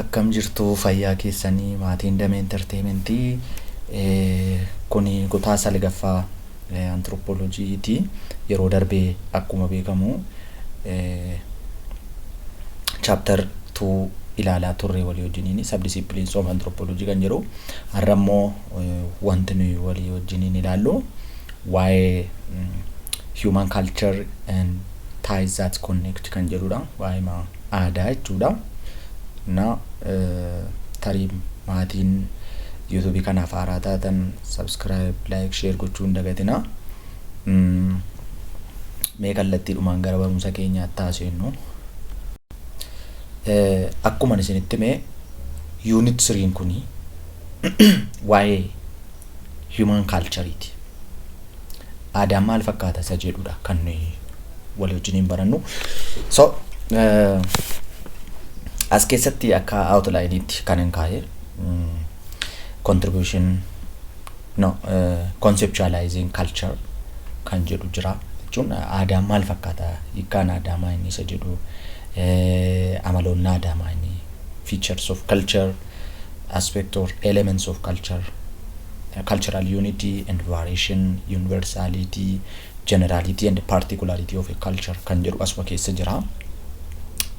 Akkam jirtu fayyaa keessanii maatiin Damee Entertainment kuni kutaa salgaffaa Anthropology ti yeroo darbe akkuma beekamu chapter two ilaalaa turre walii wajjiniin sub disciplines of Anthropology kan jedhu har'a immoo wanti nuyi walii wajjiniin ilaallu waa'ee human culture and ties that connect kan jedhudha waa'ee aadaa jechuudha. Na tarii maatiin YouTube kanaaf haaraa taatan subscribe, like, share gochuu hin dagatinaa. Mee kallattiidhumaan gara barumsa keenyaatti haa seennu. Akkuma isinitti mee unit 3 kun waa'ee Human culture ti. Aadaan maal fakkaata isa jedhudha kan nuyi walii wajjiniin barannu. So as keessatti akka outline'itti kan hin kaa'e contribution no conceptualizing culture kan jedhu jira. Jechuun aadaan maal fakkaata hiikkaan aadaa maa inni isa jedhu amaloonni aadaa maa inni features of culture aspect or elements of culture cultural unity and variation universality generality and particularity of a culture kan jedhu asuma keessa jira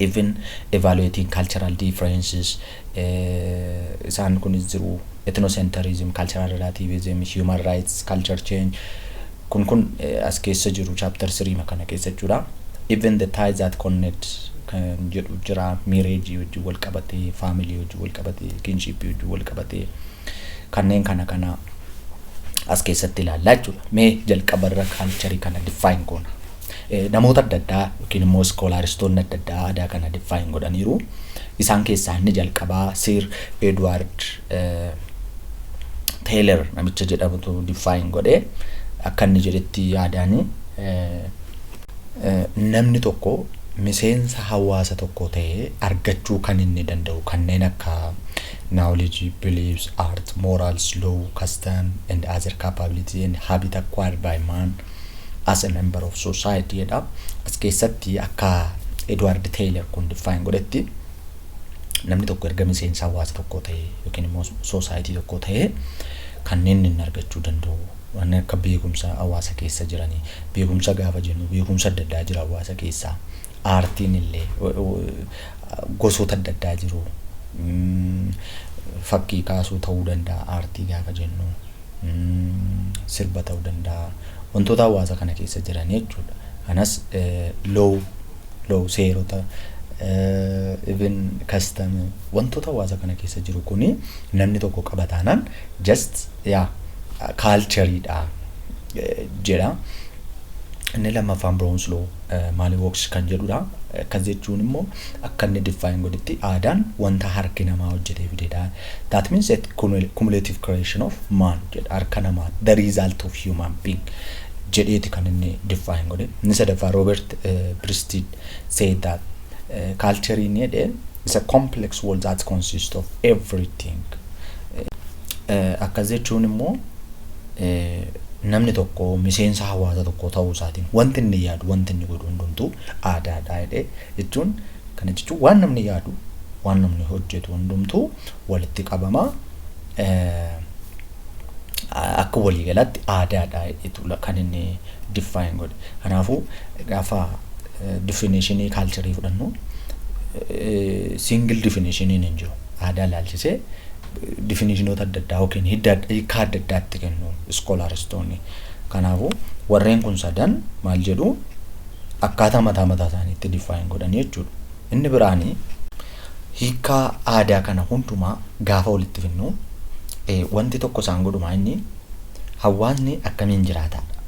even evaluating cultural differences eh, isaan kunis jiru ethnocentrism cultural relativism human rights culture change Kun kun as keessa jiru chapter three ma kana keessa jechuudha. Even the ties that connect kan jedhu jira marriage wajjin wal qabatee family wajjin wal qabatee kinship wajjin wal qabatee kanneen kana kana as keessatti ilaallaa jechuudha. Mee jalqaba irra kaalcharii kana define goona. Eh, Namoota adda addaa yookiin immoo iskoolaaristoonni adda addaa aadaa kana define godhaniiru. Isaan keessaa inni jalqabaa Sir Edward Teeler namicha jedhamutu difaayin godhe akka inni jedhetti yaadaani namni tokko miseensa hawaasa tokko ta'e argachuu kan inni danda'u kanneen akka knowledge, beliefs, art, morals, law, custom and other capability and habit acquired by man as a member of society jedha. As keessatti akka Edward Taylor kun difaayin godhetti Namni tokko erga miseensa hawaasa tokkoo ta'ee yookiin immoo soosaayitii tokkoo ta'ee kanneen inni argachuu danda'u waan akka beekumsa hawaasa keessa jiranii beekumsa gaafa jennu beekumsa adda addaa jira hawaasa keessaa aartiin illee gosoota adda addaa jiru fakkii kaasuu ta'uu danda'a aartii gaafa jennu sirba ta'uu danda'a wantoota hawaasa kana keessa jiran jechuudha kanas loow law seerota even custom wantoota hawaasa kana keessa jiru kuni namni tokko qaba taanaan just yaa kaalchariidha jedha. Inni lammaffaan Brown's law maali works kan jedhudha. Akkas jechuun immoo akka inni define godhetti aadaan wanta harki namaa hojjetee fidedha. That means a cumulative creation of man jedha harka namaa the result of human being jedheeti kan inni define godhe. Inni sadaffaa Robert that Bristid said that uh, culture in jedhe is a complex world that consists of everything. Eh, Akkas jechuun immoo eh, namni tokko miseensa hawaasa tokko ta'uu isaatiin wanti inni yaadu wanti inni godhu hundumtuu aadaadha jedhee jechuun kana jechuun waan namni yaadu waan namni hojjetu hundumtuu walitti qabama. Eh, akka waliigalaatti aadaadha jedhetu kan inni define godhe. Kanaafuu gaafa definition culture fudhannu single definition hin jiru. Aadaa ilaalchisee definitiinoota adda addaa yookiin hidda hiikaa adda addaatti kennu iskoolaaristoonni. Kanaafuu warreen kun sadan maal jedhu akkaataa mataa mataa isaaniitti define godhan jechuudha. Inni biraanii Hiikkaa aadaa kana hundumaa gaafa walitti fidnu, wanti tokko isaan godhu maa inni? Hawwaasni akkamiin jiraataa dha?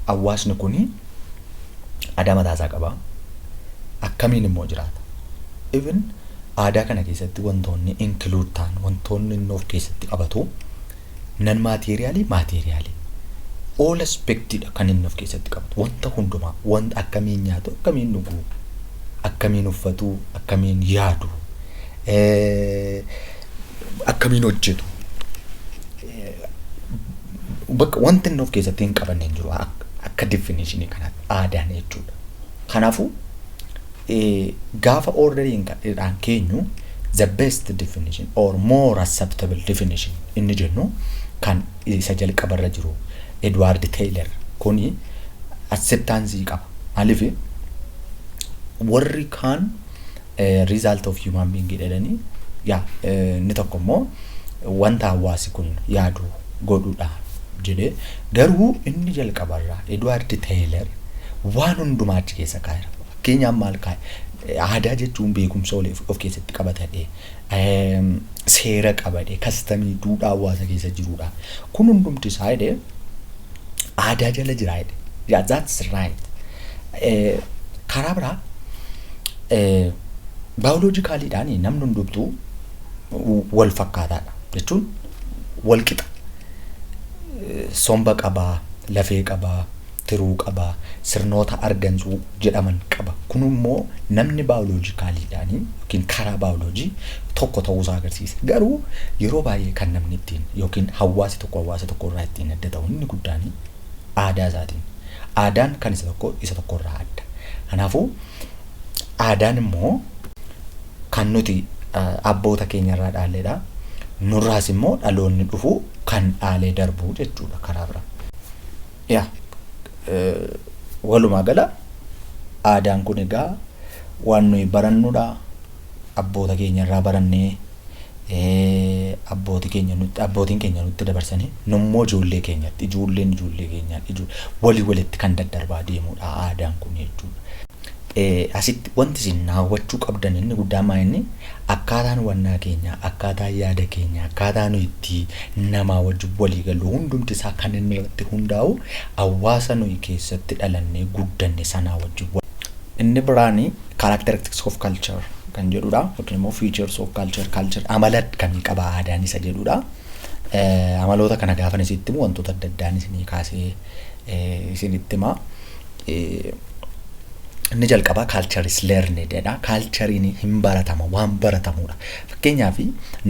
Hawwaasni kun aadaa mataa isaa qabaa? Akkamiin immoo jiraata? Even aadaa kana keessatti wantoonni include ta'an, wantoonni inni of keessatti qabatu, Nan maateeriyaalii, maateeriyaalii. All aspect dha kan inni of keessatti qabatu. Wanta hundumaa, wanta akkamiin nyaatu, akkamiin dhuguu, akkamiin uffatuu, akkamiin yaadu, eh, akkamiin hojjetu. Eh, bakka wanti inni of keessatti hin qabanne hin jiru Ak- akka definishinii kanaatti aadaan jechuudha. Kanaafuu eh, gaafa orderiin dhaan keenyu the best definition or more acceptable definition inni jennu kan isa jalqaba irra jiru Edward Taylor kuni acceptance qaba maaliif warri kaan eh, result of human being jedhanii yaa eh, inni tokko immoo wanta hawaasi kun yaadu godhuudha jedhee garuu inni jalqabarraa Edward Taylor waan hundumaa achi keessa kaa'eera fakkeenyaaf maal kaa'e Aadaa jechuun beekumsa olee of keessatti qabatadhe, seera qabadhe, kastamii, duudhaa hawaasa keessa jirudha. Kun hundumti isaa jedhe aadaa jala jira jedhe. Yeah, that's right. Karaa biraa baayoloojikaaliidhaan namni hundumtuu wal fakkaataadha jechuun wal qixa. Somba qabaa, lafee qabaa, tiruu qaba, sirnoota arganzuu jedhaman qaba. Kun immoo namni baayoloojikaaliidhaan yookiin karaa baayoloojii tokko ta'uu isaa agarsiisa. Garuu yeroo baay'ee kan namni ittiin yookiin hawaasi tokko hawaasa tokko irraa ittiin adda ta'u inni guddaan aadaa isaatiin. Aadaan kan isa tokko isa tokko irraa adda. Kanaafuu aadaan immoo kan nuti abboota keenya irraa dhaalleedha. Nurraas immoo dhaloonni dhufu kan dhaalee darbu jechuudha karaa biraa. Ya walumaa gala aadaan kun egaa waan nuyi barannudha. Abboota keenya irraa barannee abbooti keenya nutti abbootiin keenya nutti dabarsanii nummoo ijoollee keenyatti ijoolleen ijoollee keenyaa walii walitti kan daddarbaa deemudha aadaan kun jechuudha. Asitti wanti isin naawwachuu qabdan inni guddaan maa inni akkaataan wannaa keenyaa, akkaataan yaada keenyaa, akkaataa nu itti namaa wajjin walii gallu hundumti isaa kan inni irratti hundaa'u hawaasa nuyi keessatti dhalannee guddanne sanaa wajjin wal. Inni biraan characteristics of culture kan jedhudha yookiin immoo features of culture culture amala akkamii qaba aadaan isa jedhudha. Amaloota kana gaafan isinitti himu wantoota adda addaan isinii kaasee isinitti hima. inni jalqabaa culture is learned dha. Culture'n hin baratama, waan baratamudha. Fakkeenyaaf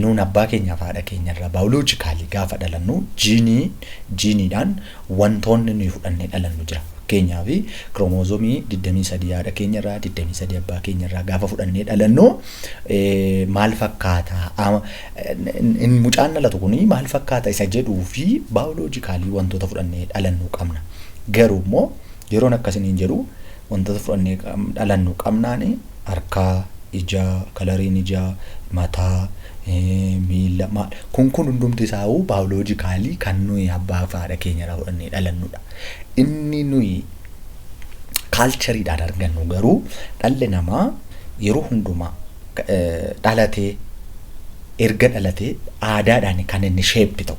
nuun abbaa keenyaaf haadha keenyarraa biologically gaafa dhalannu jiinii jiiniidhaan wantoonni nuyi fudhannee dhalannu jira. Fakkeenyaaf kiroomoozomii 23 haadha keenyarraa 23 abbaa keenyarraa gaafa fudhannee dhalannu maal fakkaata mucaan dhalatu kun maal fakkaata isa jedhuu fi biologically wantoota fudhannee dhalannu qabna. Garuu immoo yeroon akka isiniin jedhu wantoota fudhannee dhalannu qabnaan harkaa, ijaa, kalariin ijaa, mataa, miila maal kun kun hundumti isaa'uu baayoloojikaalii kan nuyi abbaa fi haadha keenya irraa fudhannee dhalannudha. Inni nuyi kaalchariidhaan argannu garuu dhalli namaa yeroo hundumaa dhalatee erga dhalatee aadaadhaan kan inni sheeppi ta'u.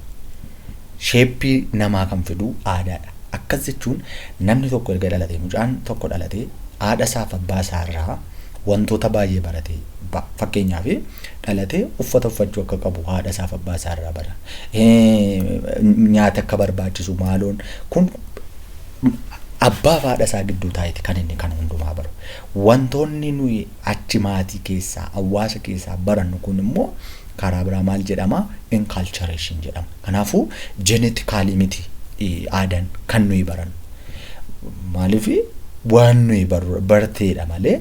Sheeppii namaa kan fidu aadaadha. Akkas jechuun namni tokko erga dhalatee, mucaan tokko dhalatee haadha isaaf abbaa isaa irraa wantoota baay'ee baratee ba'a. Fakkeenyaaf dhalatee uffata uffachuu akka qabu haadha isaaf abbaa isaa irraa bara. Nyaata akka barbaachisu maaloon kun abbaa fi haadha isaa gidduu taa'eeti kan inni kan hundumaa baru. Wantoonni nuyi achi maatii keessaa, hawaasa keessaa barannu kun immoo karaa biraa maal jedhama? Inculturation jedhama. Kanaafuu genetically miti eh, aadaan kan nuyi barannu. Maaliif waan nuyi barru- barteedha malee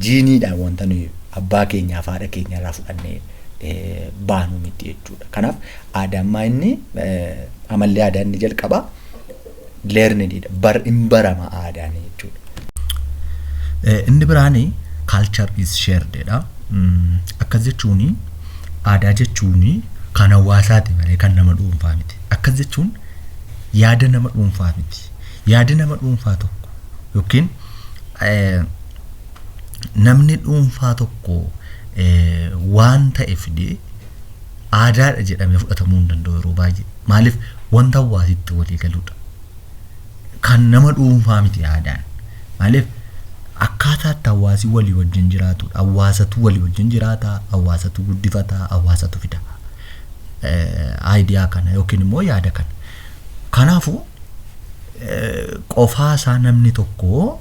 jiiniidhaan wanta nuyi abbaa keenyaaf haadha keenya irraa fudhannee eh, baanu miti jechuudha. Kanaaf aadaan maa inni eh, amalli aadaa inni jalqabaa learned dha. Bar in barama aadaan jechuudha. Inni biraan culture is shared dha. Akkas jechuun aadaa jechuun kan hawaasaati malee kan nama dhuunfaa miti. Akkas jechuun yaada nama dhuunfaa miti. Yaadi nama dhuunfaa tokko yookiin namni dhuunfaa tokko waan ta'e fidee aadaadha jedhamee fudhatamuu hin danda'u yeroo baay'ee. Maaliif wanta hawaasitti walii galuudha. Kan nama dhuunfaa miti aadaan. Maaliif akkaataa itti hawaasi walii wajjin jiraatudha. Hawaasatu walii wajjin jiraata, hawaasatu guddifata, hawaasatu fida. Aayidiyaa kana yookiin immoo yaada kana. Kanaafuu eh, qofaa isaa namni tokko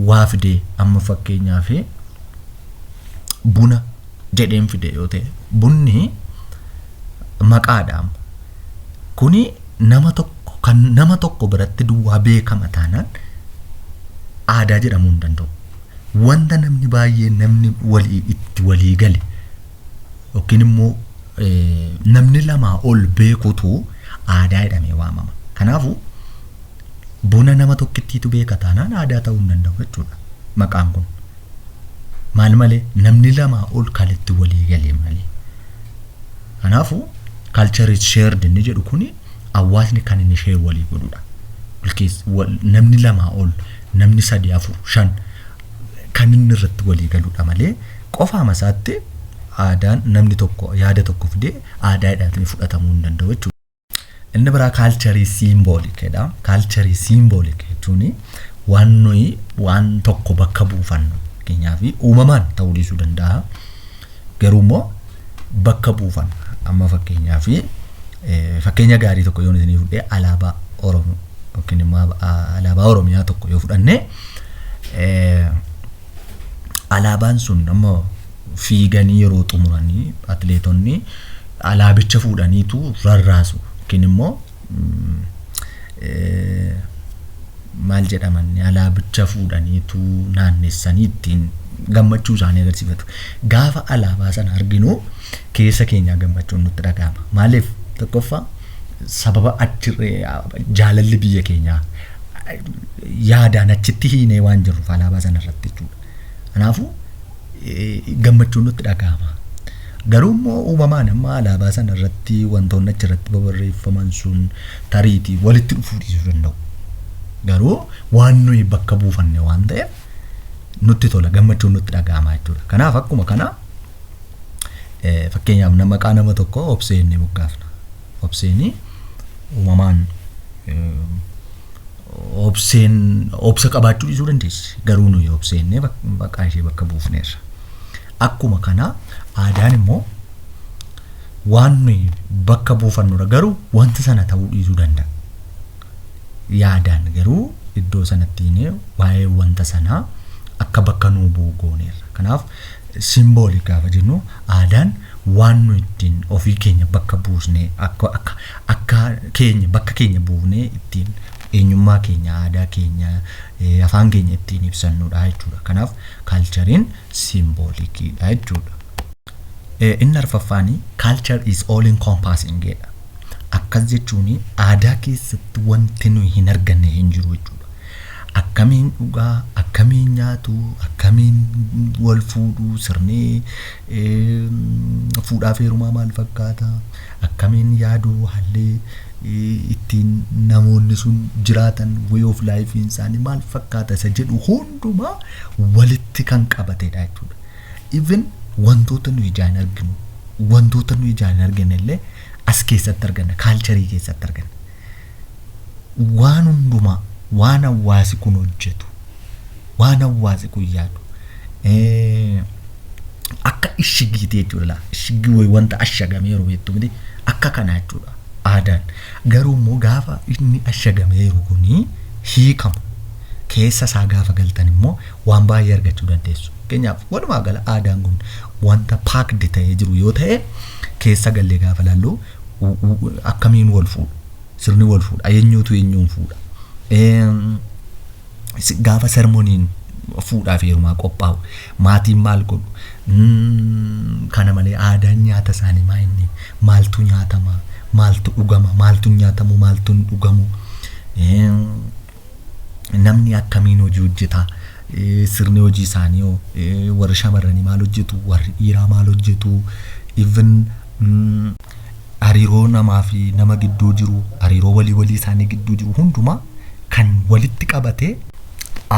waa fidee amma fakkeenyaaf buna jedheen fide yoo ta'e bunni maqaadha amma. Kuni nama tokko kan nama tokko biratti duwwaa beekama taanaan aadaa jedhamuu hin danda'u. Wanta namni baay'ee namni walii itti walii gale yookiin immoo eh, namni lamaa ol beekutu aadaa jedhamee waamama. Kanaafuu Buna nama tokkittiitu beeka taanaan aadaa ta'uu hin danda'u jechuudha maqaan kun. Maal malee namni lamaa ol kan itti walii galee malee. Kanaafuu culture is shared inni jedhu kun hawaasni kan inni share walii godhudha. Namni lamaa ol namni sadii afur shan kan inni irratti walii galudha malee qofaama isaatti aadaan namni tokko yaada tokko fidee aadaa hidhaatni fudhatamuu hin danda'u jechuudha. Inni biraa kaalcharii siimboolikidha. Kaalcharii siimboolik jechuun waan nuyi waan tokko bakka buufannu fakkeenyaaf uumamaan ta'uu dhiisuu danda'a. Garuu immoo bakka buufanna. Amma fakkeenyaaf fakkeenya gaarii tokko yoo isinii fudhee alaabaa Oromoo yookiin immoo alaabaa Oromiyaa tokko yoo fudhannee alaabaan sun amma fiiganii yeroo xumuranii atileetonni alaabicha fuudhaniitu rarraasu yookiin immoo mm, eh, maal jedhaman alaabicha fuudhaniitu naannessanii ittiin gammachuu isaanii agarsiifatu. Gaafa alaabaa sana arginu keessa keenyaa gammachuun nutti dhaga'ama. Maaliif? Tokkoffaa sababa achi jaalalli biyya keenyaa yaadaan achitti hiinee waan jirruuf alaabaa sana irratti jechuudha. Kanaafuu gammachuun nutti dhaga'ama. Garuu immoo uumamaan amma alaabaa sana irratti wantoonni achi irratti babarreeffaman sun tariitii walitti dhufuu dhiisuu danda'u. Garuu waan nuyi bakka buufanne waan ta'eef nutti tola gammachuun nutti dhaga'ama jechuudha. Kanaaf akkuma kana fakkeenyaaf nama maqaa nama tokko obsee inni moggaafna. Obseenii uumamaan obseen obsa qabaachuu dhiisuu dandeessi. Garuu nuyi obseennee maqaa ishee bakka buufneerra. Akkuma kana aadaan immoo waan nuyi bakka buufannudha. Garuu wanti sana ta'uu dhiisuu danda'a. Yaadaan garuu iddoo sanatti hinee waa'ee wanta sanaa akka bakka nuu bu'u gooneerra. Kanaaf Symbolic gaafa jennu aadaan waan nu ittiin ofii keenya bakka buusnee akka akka akka keenya bakka keenya buufnee ittiin eenyummaa keenya aadaa keenya eh, afaan keenya ittiin ibsannudha jechuudha. Kanaaf kaalchariin simboolikiidha jechuudha. Eh, Inni arfaffaani culture is all encompassing jedha. Akkas jechuun aadaa keessatti wanti nuyi hin arganne hin jiru jechuudha. akkamiin dhugaa akkamiin nyaatu akkamiin wal fuudhu sirni fuudhaa fi heerumaa maal fakkaata akkamiin yaadu haalli ittiin namoonni sun jiraatan way of life isaanii maal fakkaata isa jedhu hundumaa walitti kan qabatedha jechuudha. Even wantoota nu ijaan arginu wantoota nu ijaan argine illee as keessatti arganna kaalcharii keessatti arganna. waan hundumaa waan hawaasi kun hojjetu waan hawaasi kun yaadu eh, akka ishigiiti jechuudha laa ishigii wayi wanta ashagamee yeroo jettu miti akka kanaa jechuudha aadaan garuu immoo gaafa inni ashagamee yeroo kuni hiikamu keessa isaa gaafa galtan immoo waan baay'ee argachuu dandeessu fakkeenyaaf walumaa gala aadaan kun wanta paakdi ta'ee jiru yoo ta'e keessa gallee gaafa laallu akkamiin wal fuudhu sirni wal fuudha eenyuutu eenyuun fuudha gaafa sermoniin fuudhaa fi heerumaa qophaa'u maatiin maal godhu kana malee aadaan nyaata isaanii maa inni maaltu nyaatama maaltu dhugama maaltu nyaatamu maaltu hin dhugamu namni akkamiin hojii hojjeta sirni hojii isaanii hoo warri shamarranii maal hojjetu warri dhiiraa maal hojjetu even hariiroo namaa fi nama gidduu jiru hariiroo walii walii isaanii gidduu jiru hundumaa kan walitti qabatee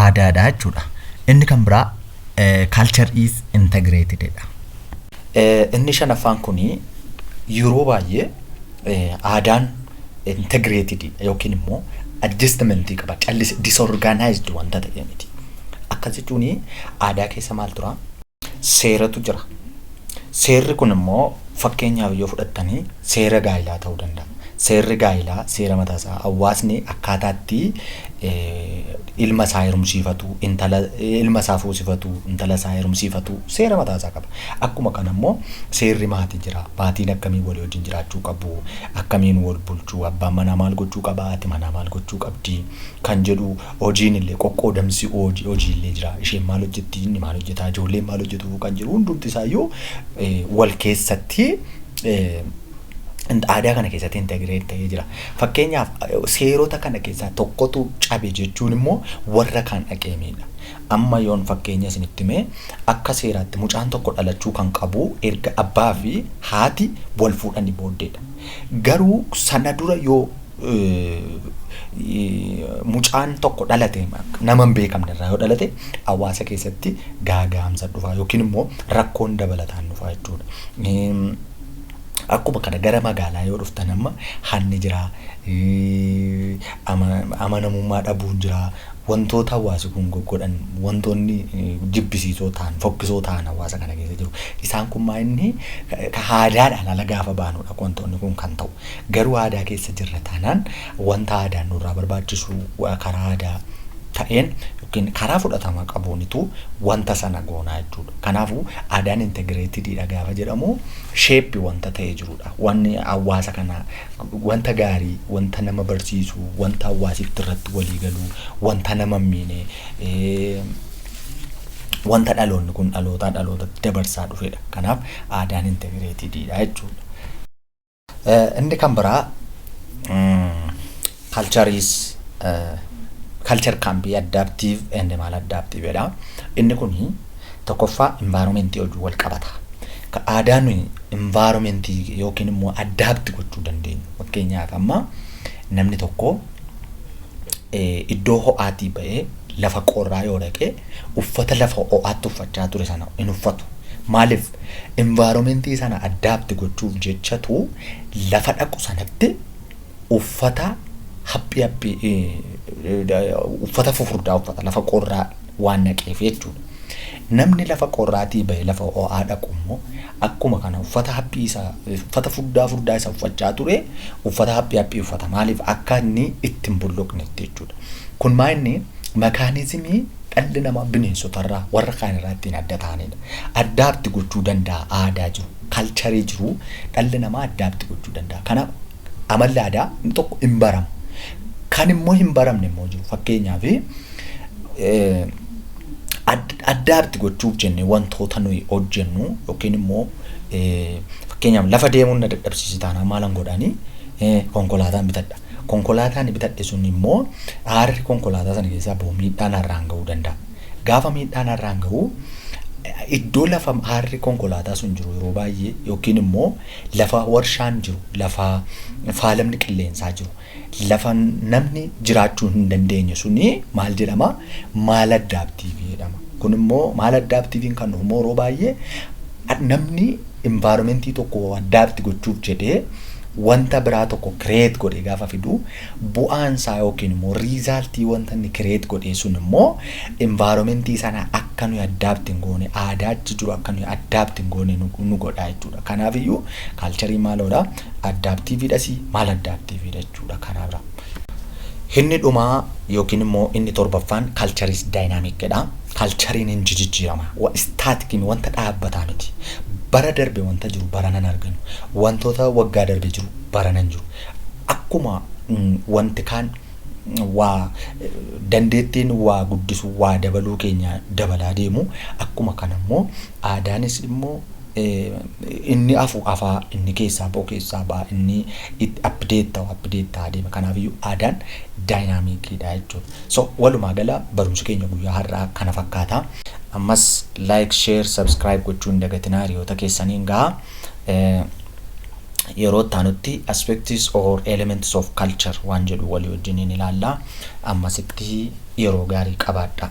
aadaadha jechuudha. Inni kan biraa culture is integrated dha. Inni shanaffaan kun yeroo baay'ee aadaan integrated dha yookiin immoo adjustment qaba callise disorganized wanta ta'e miti. Akkas jechuun aadaa keessa maal tura? Seeratu jira. Seerri kun immoo fakkeenyaaf yoo fudhattanii seera gaa'ilaa ta'uu danda'a. Seerri gaa'ilaa seera mataasaa hawaasni akkaataatti ilma isaa herumsiifatu, intala, ilma isaa fuusifatu, intala isaa herumsiifatu seera mataa isaa qaba. Akkuma kana immoo seerri maatii jira. Maatiin akkamiin walii wajjin jiraachuu qabu, akkamiin wal bulchu, abbaan manaa maal gochuu qaba, haati manaa maal gochuu qabdi kan jedhu hojiin illee qoqqoodamsi hoj- hojii illee jira. Isheen maal hojjetti, inni maal hojjeta, ijoolleen maal hojjetu kan jedhu hundumti isaayyuu eh, wal keessatti eh, int- aadaa kana keessatti integrate ta'ee jira. Fakkeenyaaf seerota kana keessaa tokkotu cabe jechuun immoo warra kaan dhaqee miidha. Amma yoon fakkeenya isinitti hime akka seeraatti mucaan tokko dhalachuu kan qabu erga abbaa fi haati wal fuudhanii booddeedha. Garuu sana dura yoo mucaan tokko dhalate nama hin beekamne irraa yoo dhalate hawaasa keessatti gaaga'amsa dhufaa yookiin immoo rakkoon dabalataan dhufaa jechuudha. Akkuma kana gara magaalaa yoo dhuftan amma hanni jira, amanamummaa dhabuun jira, wantoota hawaasi kun goggodhan wantoonni jibbisiisoo ta'an, fokkisoo ta'an hawaasa kana keessa jiru. Isaan kun maa inni aadaadhaan ala gaafa baanudha wantoonni kun kan ta'u. Garuu aadaa keessa jirra taanaan wanta aadaan nurraa barbaachisu karaa aadaa ta'een yookiin karaa fudhatama qabuunitu wanta sana goonaa jechuudha. Kanaafuu aadaan integreetidiidha gaafa jedhamu sheeppi wanta ta'ee jirudha. Wanni hawaasa kana wanta gaarii, wanta nama barsiisu, wanta hawaasifti irratti walii galu, wanta nama hin miine, wanta dhaloonni kun dhalootaa dhalootatti dabarsaa dhufedha. Kanaaf aadaan integreetidiidha jechuudha. Inni kan biraa kalchariis kalchar kan bi addaaptiiv endi maal addaaptiivedha. Inni kun tokkoffaa envaaroomentii wajjin wal qabata. Ka aadaa nuyi envaaroomentii yookiin immoo addaapti gochuu dandeenyu. Fakkeenyaaf amma namni tokko iddoo ho'aatii ba'ee lafa qorraa yoo dhaqe uffata lafa ho'aatti uffachaa ture sana hin uffatu. Maaliif? Environmentii sana adapt gochuuf jechatu lafa dhaqu sanatti uffata haphii haphii eh, uffata fufurdaa uffata lafa qorraa waan dhaqeef jechuudha. Namni lafa qorraatii ba'e lafa ho'aa dhaqu immoo akkuma kana uffata haphii isa uffata furdaa furdaa isa uffachaa ture uffata haphii haphii uffata maaliif akka inni itti hin bulluqnetti jechuudha. Kun maa inni makaanizimii dhalli namaa bineensotarraa warra kaanirraa ittiin adda ta'anidha. Addaapti gochuu danda'a aadaa jiru kalcharii jiru dhalli namaa addaapti gochuu danda'a. Kanaaf Amalli aadaa inni tokko hin baramu. Kan immoo hin baramne immoo jiru. Fakkeenyaaf addaatti gochuuf jennee wantoota nuyi hojjennu yookiin immoo fakkeenyaaf lafa deemuun na dadhabsiise taanaan maalan godhaanii konkolaataan bitadha. Konkolaataan bitadhe sun immoo aarri konkolaataa sana keessaa bahu miidhaan har'aan gahuu danda'a. Gaafa miidhaan har'aan gahu iddoo lafa aarri konkolaataa sun jiru yeroo baay'ee yookiin immoo lafa warshaan jiru, lafa faalamni qilleensaa jiru, lafa namni jiraachuu hin dandeenye suni maal jedhama? Maal addaaptiivii jedhama. Kun immoo maal addaaptiiviin kan dhufu immoo yeroo baay'ee a- namni environmentii tokko addaapti gochuuf jedhee wanta biraa tokko kireet godhee gaafa fidu bu'aan isaa yookiin immoo riizaaltii wanta inni kireet godhee sun immoo environment sana akka nuyi adapt hin goone aadaa achi jiru akka nuyi adapt hin goone nu, nu godha jechuudha kanaaf iyyuu kaalcharii maaloodha adaptiiviidhas maal adaptiiviidha jechuudha kanaa bira Inni dhumaa yookiin immoo inni torbaffaan kalchariis daayinaamikidha. Kalchariin hin jijijjiirama. Wa istaatikiin wanta dhaabbataa miti. Bara darbe wanta jiru barana hin arginu. Wantoota waggaa darbe jiru barana hin jiru. Akkuma mm, wanti kaan waa dandeettiin waa guddisuu waa dabaluu keenya dabalaa deemu akkuma kana immoo aadaanis immoo inni afu afaa inni keessaa ba'u keessaa ba'a inni appideet ta'u appideet ta'aa deema kanaafiyyuu aadaan daayinaamikiidha jechuudha so walumaa gala barumsi keenya guyyaa har'aa kana fakkaata ammas like share subscribe gochuu hin dagatinaa hiriyoota keessaniin gahaa yeroo itti aanutti aspects or elements of culture waan jedhu walii wajjiniin ilaalla. Ammasitti yeroo gaarii qabaadhaa.